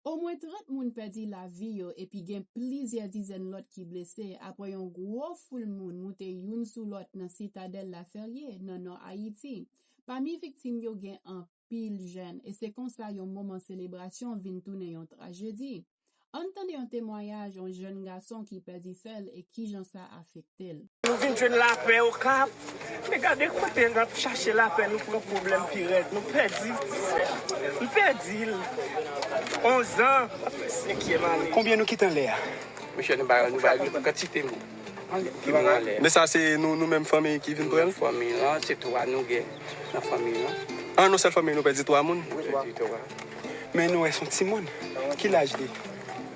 Omwen 30 moun pèdi lavi yo epi gen plizyè dizèn lòt ki blese apre yon gwo foul moun moute youn sou lòt nan Sitadèl Laferye, nan nò Ayiti. Pami viktim yo gen anpil jèn e se konsa yon moman selebrasyon vin tounen yon trajedi. Ann tande yon temwayaj yon jèn gason ki pèdi sè l e kijan sa afekte l. Nou vin jwenn lapè okap. Men gade kote nap chache lapè nou pran pwoblèm pi rèd. Nou pèdi ti sè a. Nou pèdil. 11 ans ap fè 5 yèm ane. Konbyen nou kite anlè a? Mesye nou bay nou kantite moun ki moun anlè a. Men sa se nou menm fanmi ki vin pranl? Fanmi lan se 3 nou gen nan fanmi lan. An yon sèl fanmi nou pèdi 3 moun? Wi. Men nou wè son timoun. Ki laj li?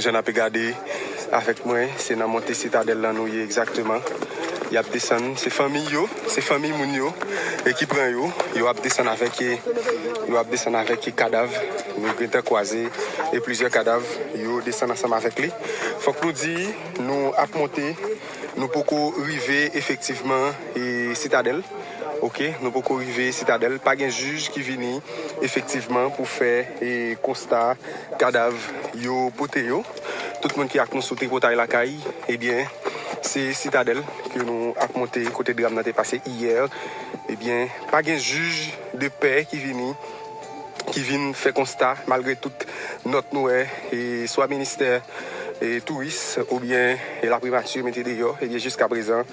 Jan nape gade avek mwen se nan monte sitadel lan nou ye egzakteman yap desann se fanmiy yo se fanmiy moun yo ki pran yo yo ap desann avek yo ap desann avek kadav nou gentan kwaze e plizyè kadav yo desann ansanm avek li fok nou di nou ap monte nou poko rive efektivman sitadel. Ok nou poko rive sitadèl pa gen jij ki vini efektivman pou fè konsta kadav yo pote yo tout moun ki ak nou sou tripotay lakay ebyen se sitadèl ke nou ap monte kote dram nan te pase iyè ebyen pa gen jij de pè ki vini ki vin fè konsta malgre tout nòt nou wè swa ministè touris oubyen laprimati mete deyò ebyen jiskaprezan.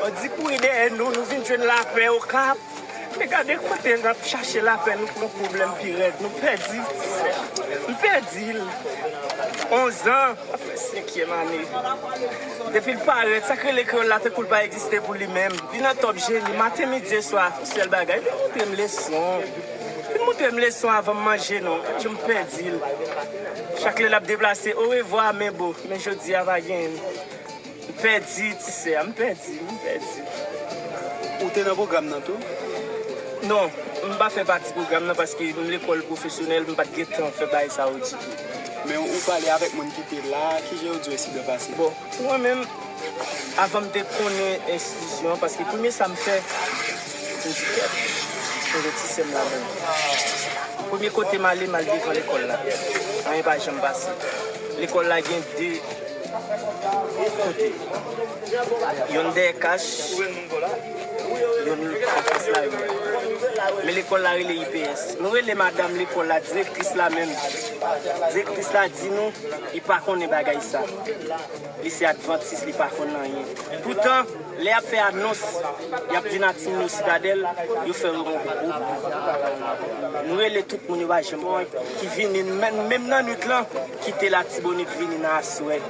Bandi kouri dèyè nou, nou vin jwenn lapè okap, men gade kote nap chache lapè nou pran pwoblèm pi rèd, nou pèdi frè, nou pèdil, 11 an ap fè 5 kièm ane, depil parèt sak rele kreyòl la tankoul pa egziste pou li menm, li nan tòp jeni, maten midi e swa, sèl bagay, vin moutrem leson, vin moutrem leson avanm manje non, gad janm pèdil, chak lè lap deplase, orevwa men bo, men jodia pa genyenn. M pèdi ti sè a, m pèdi, m pèdi. Ou te nan pwogram nan tou? Non, m pa fè pati pwogram nan paske m lekòl pwofesyonèl, m pa t gen tan fè bagay sa yo ditou. Men ou pale avèk moun ki te la, ki jan yo di w ensidan pase? Bon, pou mwen menm, avan m te konnen enstitisyon an, paske premye sa m fè, m di kèt, m gen ti sè m ladan l. Premye kote m ale, m al devan lekòl la. Anyen pa janm pase. Lekòl la gen de. Youn dèyè kach, youn anfas lari a. Men lekòl la rele IPS. Nou rele madam lekòl la, direktris la menm. Direktris la di nou li pa konnen bagay sa. Li se advantis, li pa konn anyen. Poutan, lè y ap fè anons, y ap di n a ti moun yo Sitadèl, yo fè yon gwo bri. Nou rele tout moun yo pa janm konn ki vini. Menm nan nuit lan. Kite latibonit vini nan aswè.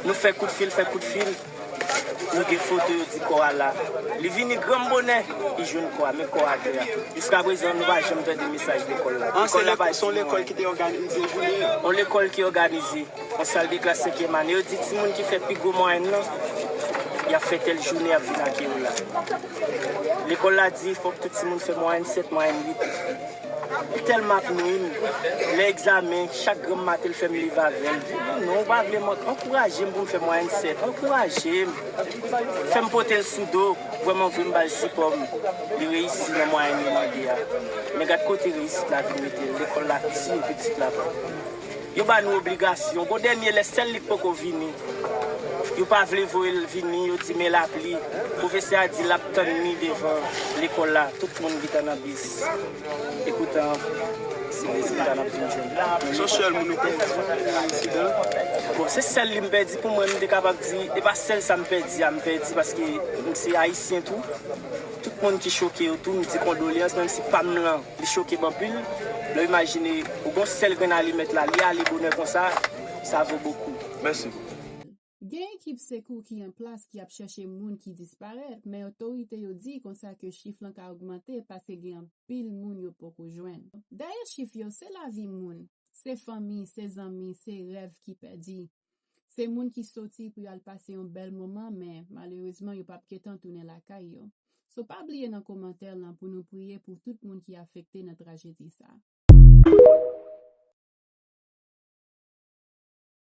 Nou fè kout fil, fè kout fil, nou gen foto yo di kò a la. Li vini granm bonè, li jwenn kò a, men kò a atè a. Jiskaprezan nou pa janm tande mesaj lekòl la. An, se lekòl, se yon lekòl ki te òganize jounen an? Yon lekòl ki òganize, yon sal de klas senkyèm ane. Yo di timoun ki fè pi gwo mwayèn lan, y ap fè tèl jounen y ap vin ak yo la. Lekòl la di fòk tout timoun fè mwayèn 7, mwayèn 8. Li telman ap nwim lè egzamen chak granm maten li fèm leve avèl epi non ou pa vle mwen ankourajem poum fè mwayèn 7 ankourajem fèm potel sou do vrèman vre mbal sipòm li reyisi nan mwayèn li mande a men gad kote reyisit la vin metel lekòl la ti pitit la pa. Yo ba nou obligasyon. Gon dènye lè sèl li k poko vini. Yo pa vle voye l vini, yo di men lapli. Pwofesè a di l ap tann li devan lekòl la. Tout moun gentan nan bis. Epoutan, se rezilta n ap vin jwenn la. Son sèl moun ou pèdi nan aksidan an? Bon, se sèl li m pèdi pou mwen. M te kapab di e pa sèl sa m pèdi a m pèdi paske m se ayisyen tou. Tout moun ki choke yo tou m di kondolyans menm si pa m lan. Li choke m anpil lè w imajine ou gen yon sèl grenn alimèt la, li ale bonè konsa, sa vo bokou. Mèsi bokou. Gen ekip sekou ki an plas ki ap chèche moun ki disparèt, men otorite yo di konsa ke chif lan ka ogmante paske gen anpil moun yo poko jwenn. Dèyè chif yo, se lavi moun, se fanmi, se zanmi, se rèv ki pèdi, Se moun ki soti pou yo al pase yon bèl moman men malerezman yo pap gentan tounen lakay yo. So pa bliye nan komantè lan pou nou priye pou tout moun ki afekte nan trajedi sa.